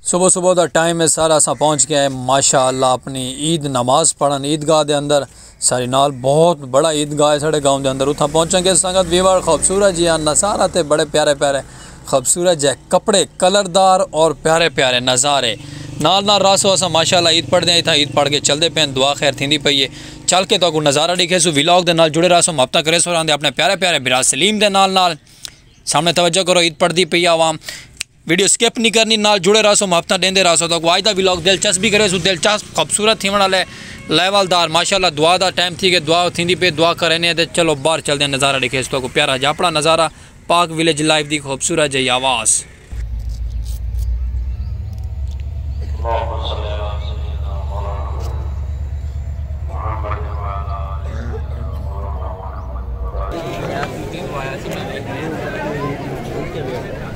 صبح صبح the time ہے سر اساں پہنچ گئے ماشاء اللہ اپنی عید نماز پڑھن عید گاہ دے اندر ساڑی نال بہت بڑا عید گاہ ہے ساڑے گاؤں دے اندر اتھاں پہنچاں گے سنگت ویوار خوبصورت جی آن نظارہ تے بڑے پیارے پیارے خوبصورت جی کپڑے کلر دار اور پیارے پیارے نظارے نال نال راسو اساں ماشاءاللہ عید پڑھ دے ہیں اتھاں عید پڑھ کے چل دے پین دعا خیر تھیندی پئی ہے چل کے تو کو نظارہ ڈیکھے سو ویلاگ دے نال جڑے راسو مابطہ کرے سو رہن دے اپنے پیارے پیارے برا سلیم دے نال نال سامنے توجہ کرو عید پڑھ دی پئی عوام ویڈیو سکپ نہیں کرنی نال جڑے رہا سو محبتاں دیندے رہا سو تاکو آج دا ویلاگ دلچسپ بھی کرے سو دلچسپ خوبصورت تھیون والا ہے لیول دار ماشاءاللہ دعا دا ٹائم تھی گئے دعا تھیندی پہ دعا کرینے تے چلو باہر چل دے نظارہ دیکھے سو تاکو پیارا جا اپنا نظارہ پاک ویلیج لائف دی خوبصورت جائی آواز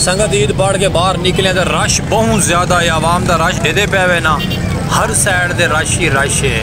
سنگت عید بڑھ کے باہر نکلے تو رش بہت زیادہ ہے عوام دا رش دے دے پہ وے نا ہر سائڈ دے رش ہی رش ہے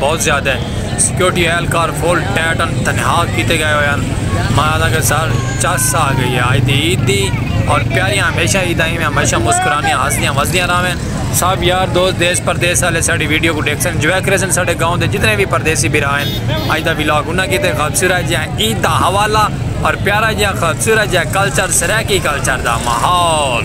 بہت زیادہ ہے سیکیورٹی اہلکار فل ٹیٹ ان تنہا کیتے گئے ہوئے ہیں مہاراجا کے سر چس آ گئی ہے آج دی عید دی اور پیاریاں ہمیشہ عید آئی میں ہمیشہ مسکرانیاں ہسدیاں وسدیاں راویں سب یار دوست دیس پردیس والے ساڑی ویڈیو کو ڈیکھ سن جوائے کرے سن ساڑے گاؤں دے جتنے بھی پردیسی بھی رہا ہیں آج دا ویلاگ انہاں کی تے خبصورہ جی ہیں عید دا حوالہ اور پیارا جی ہیں خبصورہ جی ہیں کلچر سریکی کلچر دا محول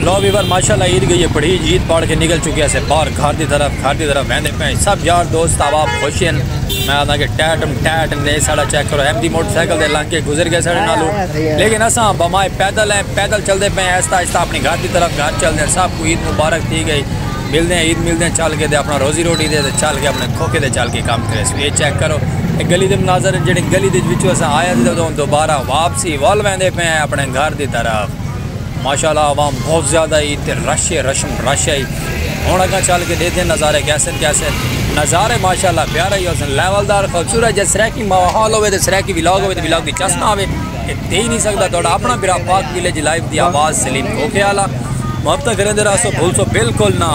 لو ویور ماشاءاللہ عید گئی ہے پڑھی عید پاڑ کے نکل چکے سے باہر گھر دی طرف گھر دی طرف ویندے پے سب یار دوست احباب خوش ہیں میں آندا کہ ٹیٹم ٹیٹ نے ساڑا چیک کرو ایم دی موٹر سائیکل دے لنگ کے گزر گئے ساڑے نالو لیکن اساں بمائے پیدل ہیں پیدل چل دے پے ایستا ایستا اپنی گھر دی طرف گھر چل دے سب کو عید مبارک تھی گئی مل دے عید مل دے چل کے دے اپنا روزی روٹی دے چل کے اپنے کھوکے دے چل کے کام کرے سو یہ چیک کرو گلی دے مناظر جڑے گلی دے وچوں اساں آیا دے دوبارہ واپس اسی ول ویندے پئے ہیں اپنے گھر دی طرف ماشاءاللہ عوام بہت زیادہ ہی تے رش رشم رش ہی ہن اگاں چل کے دیکھدے نظارے کیسن کیسن نظارے ماشاءاللہ پیارے ہی حسن لیول دار خوبصورت جے سرائیکی ماحول ہوے تے سرائیکی ولاگ ہوے تے ولاگ دی چس نہ ہوے تے دے ہی نہیں سکدا تہاڈا اپنا برا پاک ویلیج لائیو دی آواز سلیم کھوکھے والا محبت کریندے رہسو بھولسو بالکل نہ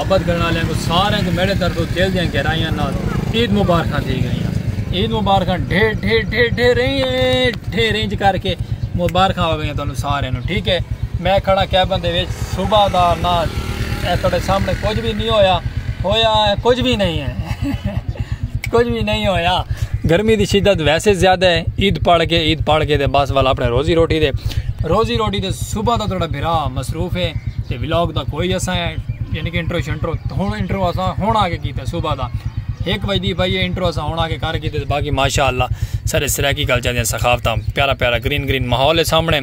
محبت کرنے والے کو سارے کو میرے طرف دل دیا گہرائیاں نال عید مبارکاں دی گئیاں عید مبارکاں ڈھیر ڈھیر ڈھیر ڈھیر رہی ڈھیر رینج کر کے مبارکاں ہو گئیاں تانوں سارے نو ٹھیک ہے میں کھڑا کیبن دے وچ صبح دا نہ اے تھوڑے سامنے کچھ بھی نہیں ہویا ہویا ہے کچھ بھی نہیں ہے کچھ بھی نہیں ہویا گرمی دی شدت ویسے زیادہ ہے عید پڑھ کے عید پڑھ کے دے بس والا اپنے روزی روٹی دے روزی روٹی دے صبح دا تھوڑا بھرا مصروف ہے بلاگ دا کوئی اساں ہے یعنی کہ انٹرو شنٹرو ہن انٹرو اساں ہن آ کے کیتا صبح دا ایک بج دی بھائی انٹرو اساں ہن آ کے کر کیتے باقی ماشاءاللہ سارے سرائیکی کلچر دیاں ثقافتاں پیارا پیارا گرین گرین ماحول ہے سامنے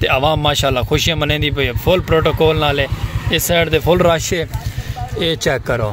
تے عوام ماشاءاللہ خوشیاں منیندی پئی ہے فل پروٹوکول نال ہے اس سائیڈ تے فل رش ہے اے چیک کرو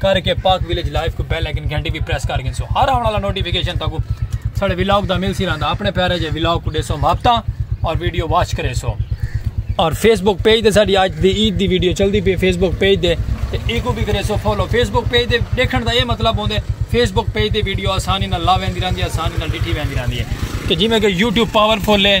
کر کے پاک ویلیج لائیو کو بیل آئیکن گھنٹی بھی پریس کر گنسو ہر آنے والا نوٹیفیکیشن تاکو ساڑے ویلاگ دا مل سی رہندا اپنے پیارے جے ویلاگ کو دیسو محبتاں اور ویڈیو واچ کرے سو اور فیس بک پیج دے ساڑی آج دی عید دی ویڈیو چل دی پی فیس بک پیج دے تے ایکو بھی کرے سو فالو فیس بک پیج دے دیکھن دا یہ مطلب ہوندے فیس بک پیج دے ویڈیو آسانی نہ لا ویندی رہندی آسانی نہ ڈٹھی ویندی رہندی ہے کہ جی میں کہ یوٹیوب پاورفل ہے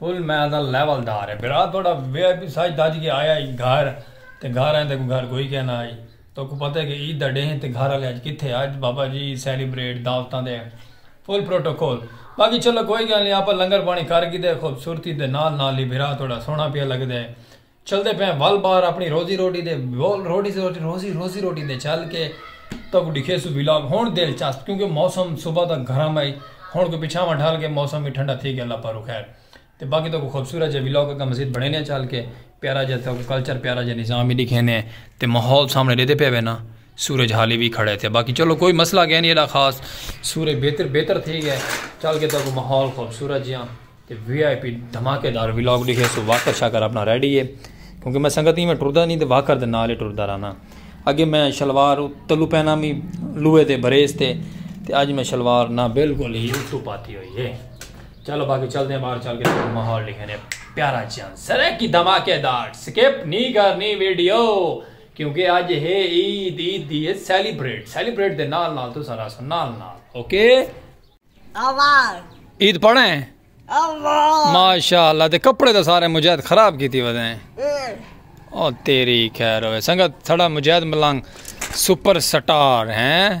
فل میزل لیول دار ہے برا توڑا وی آئی پی ساج دج کے آیا ہی گھر تے گھر آئیں تے کوئی گھر کوئی کہنا آئی تو کو پتہ ہے کہ عید دا ڈیہن تے گھر آلے آج کتھے آج بابا جی سیلیبریٹ دعوتاں دے فل پروٹوکول باقی چلو کوئی گل نہیں آپا لنگر پانی کر گی دے خوبصورتی دے نال نال ہی برا توڑا سونا پیا لگ دے چلدے پئے ول بار اپنی روزی روٹی دے ول روٹی روٹی روزی روزی روٹی دے چل کے تک ڈکھے سو ویلاگ ہون دل چاست کیونکہ موسم صبح تک گھرم ہے ہون کو پچھا ماں ڈھال کے موسم بھی ٹھنڈا تھی گیا اللہ پارو خیر تے باقی تو کو خوبصورت جے ویلاگ کا مزید بڑھے نے چل کے پیارا جے تو کلچر پیارا جے نظام بھی دکھے نے تے ماحول سامنے دیتے پے وے نا سورج حالی وی کھڑے تھے باقی چلو کوئی مسئلہ گئے نہیں ایڈا خاص سورج بہتر بہتر تھی گئے چل کے تاکہ ماحول خوبصورت جیاں تے وی آئی پی دھماکے دار ولاگ ڈیکھے سو واکر شاکر اپنا ریڈی ہے کیونکہ میں سنگت ہی میں ٹردا نہیں تے واکر دے نال ہی ٹردا رہنا اگے میں شلوار تلو پہنا بھی لوہے دے بریس تے تے اج میں شلوار نہ بالکل ہی اتو پاتی ہوئی ہے چلو باقی چل دیں باہر چل کے تاکہ ماحول ڈیکھے پیارا جیاں سرے کی دھماکے دار سکپ نہیں کرنی ویڈیو کیونکہ اج ہے عید عید دی ہے سیلیبریٹ سیلیبریٹ دے نال نال تو سارا سو نال نال اوکے اوار عید پڑھے ہیں اوار ماشاءاللہ تے کپڑے تے سارے مجاہد خراب کیتی ودے ہیں او تیری خیر ہوئے سنگت تھڑا مجاہد ملنگ سپر سٹار ہیں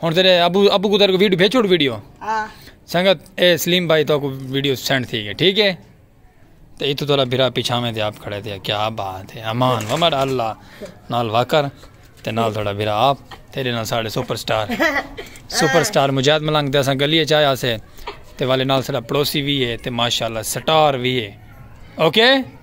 ہن تیرے ابو ابو کو تیرے کو ویڈیو بھیج چھوڑ ویڈیو ہاں سنگت اے سلیم بھائی تو کو ویڈیو سینڈ تھی گئی ٹھیک ہے تے ایتھے تولا بھرا پیچھاویں تے آپ کھڑے تے کیا بات ہے امان ومر اللہ نال واکر تے نال تھوڑا بھرا آپ تیرے نال ساڑے super star super star Mujahid Malang تے اساں گلیے چاہیا سے تے والے نال ساڑا پڑوسی بھی ہے تے ماشاءاللہ سٹار بھی ہے اوکے okay?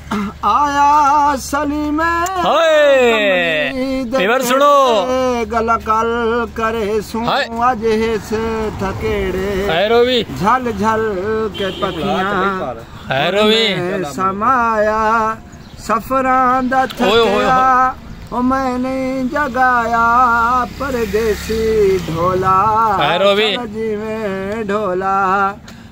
آیا سلیم پیور سنو گل کل کرے سوں اج ہس تھکیڑے ہیرو وی جھل جھل کے پکیاں ہیرو وی سمایا سفراں دا تھکیا او میں نہیں جگایا پردیسی ڈھولا ہیرو وی جویں ڈھولا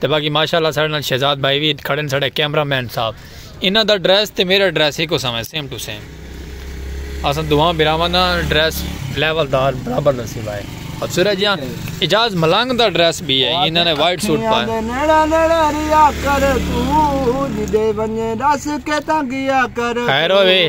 تے باقی ماشاء اللہ ساڑے نال شہزاد بھائی وی کھڑے نے ساڑے کیمرہ مین صاحب انہاں دا ڈریس تے میرا ڈریس ہک اساں ہے سیم ٹو سیم اساں دوہاں بھراواں دا ڈریس لیول دار برابر دا سیوا ہے اور سورہ جی اجاز ملنگ دا ڈریس بھی ہے انہاں نے وائٹ سوٹ پایا ہے نیڑا نیڑا ریا کر تو جدے ونجے دس کے تنگیا کر خیر ہوئے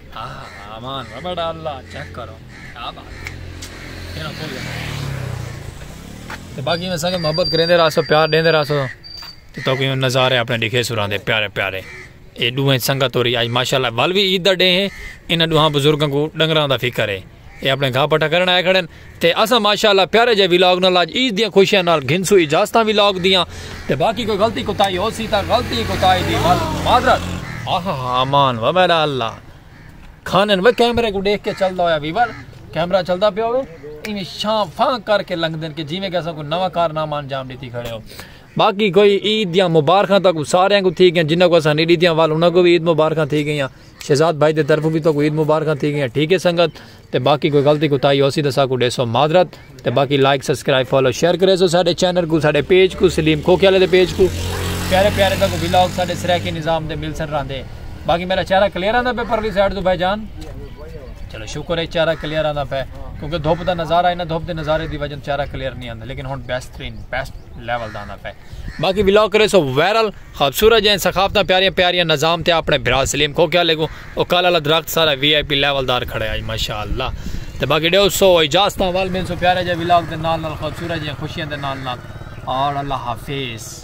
امان ربڑ اللہ چیک کرو کیا بات ہے تو باقی میں سنگت محبت کریں دے راسو پیار دیں دے راسو تو تو کوئی نظارے اپنے دکھے سران دے پیارے پیارے اے دوہیں سنگت ہو رہی آج ماشاءاللہ والوی عید دا ڈے ہیں انہاں دوہاں بزرگوں کو ڈنگران دا فکر ہے اے اپنے گھا پٹھا کرنا ہے کھڑے تے اساں ماشاءاللہ پیارے جئے ولاگ نال اج عید دیاں خوشیاں نال گھنسوں اجازتاں ولاگ دیاں تے باقی کوئی غلطی کوتاہی ہوسی تاں غلطی کوتاہی دی معذرت۔ آہاہا امان و میرا اللہ کھانن وے کیمرے کوں ڈیکھ کے چلدا ہویا ویور کیمرہ چلدا پیا ہوے ایویں شاں فاں کر کے لنگدن کہ جیویں کہ اساں کوئی نواں کارنامہ انجام ڈتی کھڑے ہو باقی کوئی عید دیاں مبارخاں تاں کوئی سارے کوں تھی گیاں جنہاں کو اساں نہیں ڈتیاں وال انہاں کو بھی عید مبارخاں تھی گیاں شہزاد بھائی دے طرفوں بھی تو کوئی عید مبارخاں تھی گیاں ٹھیک ہے سنگت تے باقی کوئی غلطی کوتاہی ہوسی تاں ساکوں ڈیسو معذرت تے باقی لائک سبسکرائب فالو شیئر کریسو ساڈے چینل کوں ساڈے پیج کوں سلیم کھوکھے والے دے پیج کوں پیارے پیارے تاکوں ولاگ ساڈے سرائیکی نظام دے ملسن راندے باقی میرا چہرہ کلیئر آندا پہ پرلی سائیڈ تو بھائی جان چلو شکر ہے چہرہ کلیئر آندا پہ کیونکہ دھوپ دا نظارہ ہے نا دھوپ دے نظارے دی وجہ چہرہ کلیئر نہیں آندا لیکن ہن بہترین بیسٹ لیول دا آندا پہ باقی ولاگ کریسو وائرل خوبصورت جئیں ثقافتاں پیاریاں پیاریاں نظام تے اپنڑے بھرا سلیم کو کیا لگوں او کل آلا درخت سارا وی آئی پی لیول دار کھڑے آج ماشاءاللہ تے باقی ڈیو سو اجازتاں ول ملسوں پیارے جئے ولاگ دے نال نال خوبصورت جئیں خوشیاں دے نال نال اور اللہ حافظ۔